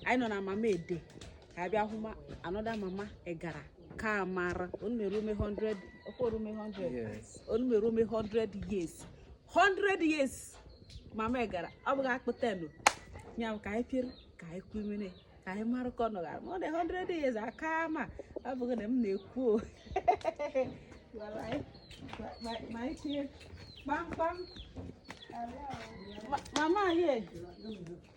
anyị nọ na mama ede ka a bịa hụ ma another mama egara ka mara onumerume 100 okworume 100 onumerume 100 years 100 years mama egara ọ bụghị akpụtenu ya ka anyị pịrị ka anyị kwumere ka anyị mara ka ọ nọgara more than 100 years aka ma ọ bụghị na m na-ekwu ma anyị tinye kpamkpam mama ye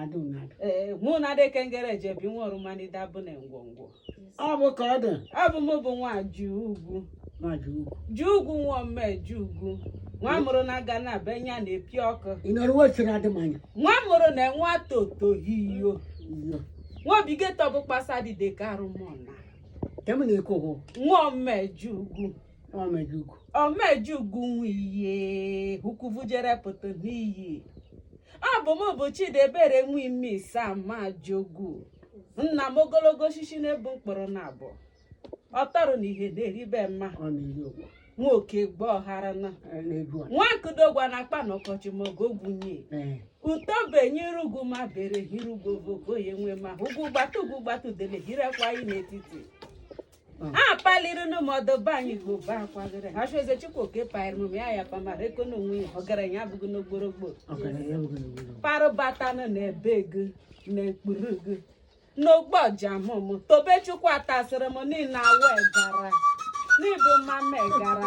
adụnadụ ee mụ na adịke ngere ji ebi nwa ọrụ manide abụ na ngwongwo ọ bụ ka ọ dị ọ bụ mụ bụ nwa ji ugwu ma dị ugwu ji ugwu nwa ome ji ugwu nwa mụrụ na aga na be nya na-epi ọkụ ị nọrọ wechiri adịmanya nwa mụrụ na nwa toto hiyo iyo nwa obigeto bụ kpasa dịde ka arụmọna nke m na-ekwu bụ nwa ome ji ugwu Omejugu. Omejugu nwiye ukuvujere pụta n'iyi. Ọ bụ m bụ Chidebere Nwime Isamajogu. Nna m ogologo osisi na-ebu mkpụrụ naabọ. Ọ tọrọ na ihe na-eribe mma. Ọ na-eri ụgwọ. Nwoke gba ọhara na. Ọ na-ebu a. Nwa nkụdogwa na akpa na ọkọchị ma oge ogwunye. Ee. Utobe nyere ugwu ma bere hiri ugwu ogogo ya enwe ma ugwu gbata ugwu gbata udele hirekwa anyị n'etiti. a paliri na mọdụ be anyị ka obe akwagịrị ha sị eze chukwu oke paịrị m ya ya pamara eko na onwe ya ọgaranya abụghị n'ogborogbo parụbatanụ na ebe gị na ekpuru gị n'ogbo ọjamụ m tobe chukwu atasịrị m niile awụ egara n'ịbụ mama egara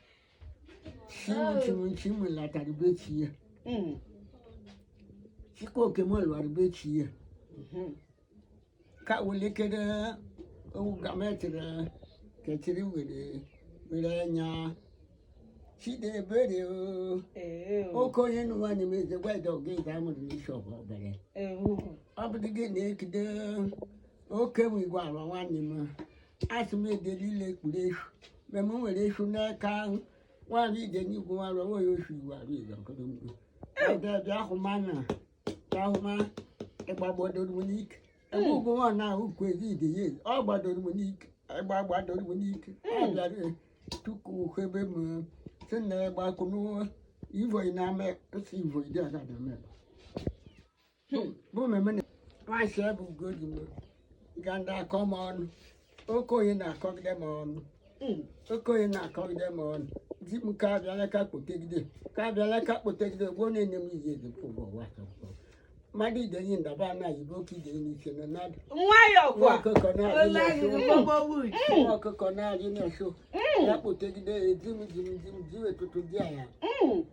Chi mụ latara be chi ya. Mm. Chikoke mụ lara be chi ya. Mhm. Ka welikere owu gametịrị kechiri were were anya. Chidebere o. Ee, o. Oke onye nụwa n'ime eze gwa ịdọ gị ịza amụrụ n'ishọp obere. Ee, o. ọ bụ gị na-ekide oke nwe igwe ala nwanne m asị m edere ile ekpuru eshu mgbe m nwere eshu n'aka ahụ nwaanyị Idenyi gwarụ onwe ya ofu iwu arụ izu ọkụrụ mgbu edebịa ahụma na ahụma ịgbagbadoro m n'ike ebe ugwu nwa na ahụ kwu ezi ide ya ezi ọ gbadoro m n'ike ịgba gbadoro m n'ike ọ bịara e, tuku ebe m si na ịgbakwụ n'ụwa ivoyi na-ame si ivoyi dị ọzọ na-eme Hmm, bụ mmemme na nwaanyị ebe ugodi m ga ndị akọ m ọnụ okoye na-akọgide m ọnụ Hmm, okoye na-akọgide m ọnụ di m ka abịala ka kpotegide ka abịala ka kpotegide gboo na-enye m ihe dị pụbụ ụwa tọpụ mmadụ idenyi ndaba anaghị bụ oke idenyi n'ike na nadụ nwayọ nwa kwa ọkụkọ na-adị ole anyị n'ọsọ rụgbọgbọ wuj nwa ọkụkọ na-adị n'ọsọ ya kpotegide ya di m di m di m di wetụtụ di ala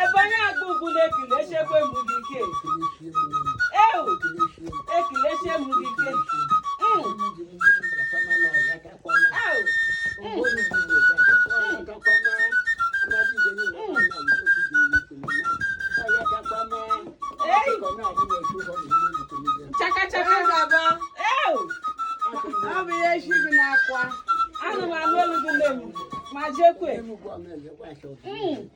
Ebonyi agba ugwu na-ekele echekwa mgbu gị ike. Ewu, ekele echekwa mgbu gị ike. Mm. Ewu, chaka chaka ga-aba. Ewu, Ọ bụ ihe chi gị na-akwa. anụma m olu gị nne m, ma jekwe. Mm.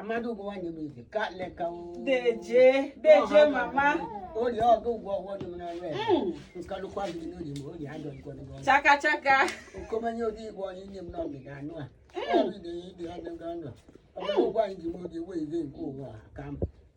amadu ụgwọ nwanyị bụ ife ka leka deje deje mama oyi ọgụ ụgwọ ọgwọ dị m na nre nkalụkwa gị n'oyi ma oyi adọ igwe n'ụgwọ chaka chaka okomanye oge igwe onye nye m n'ọgị ga anụ a ọrụ ide ya ide ya n'oge ọnụ ọgụ ụgwọ anyị ji m oge wee ize nke ụwa ka m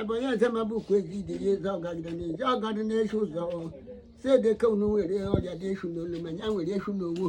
abanye azamabụ ukwu ezi idiri eze ọgagide n'ezi ọgadị na-eshi ụzọ si edeke unu nwere ọrịa dị eshu n'olu ma ya nwere eshu n'owo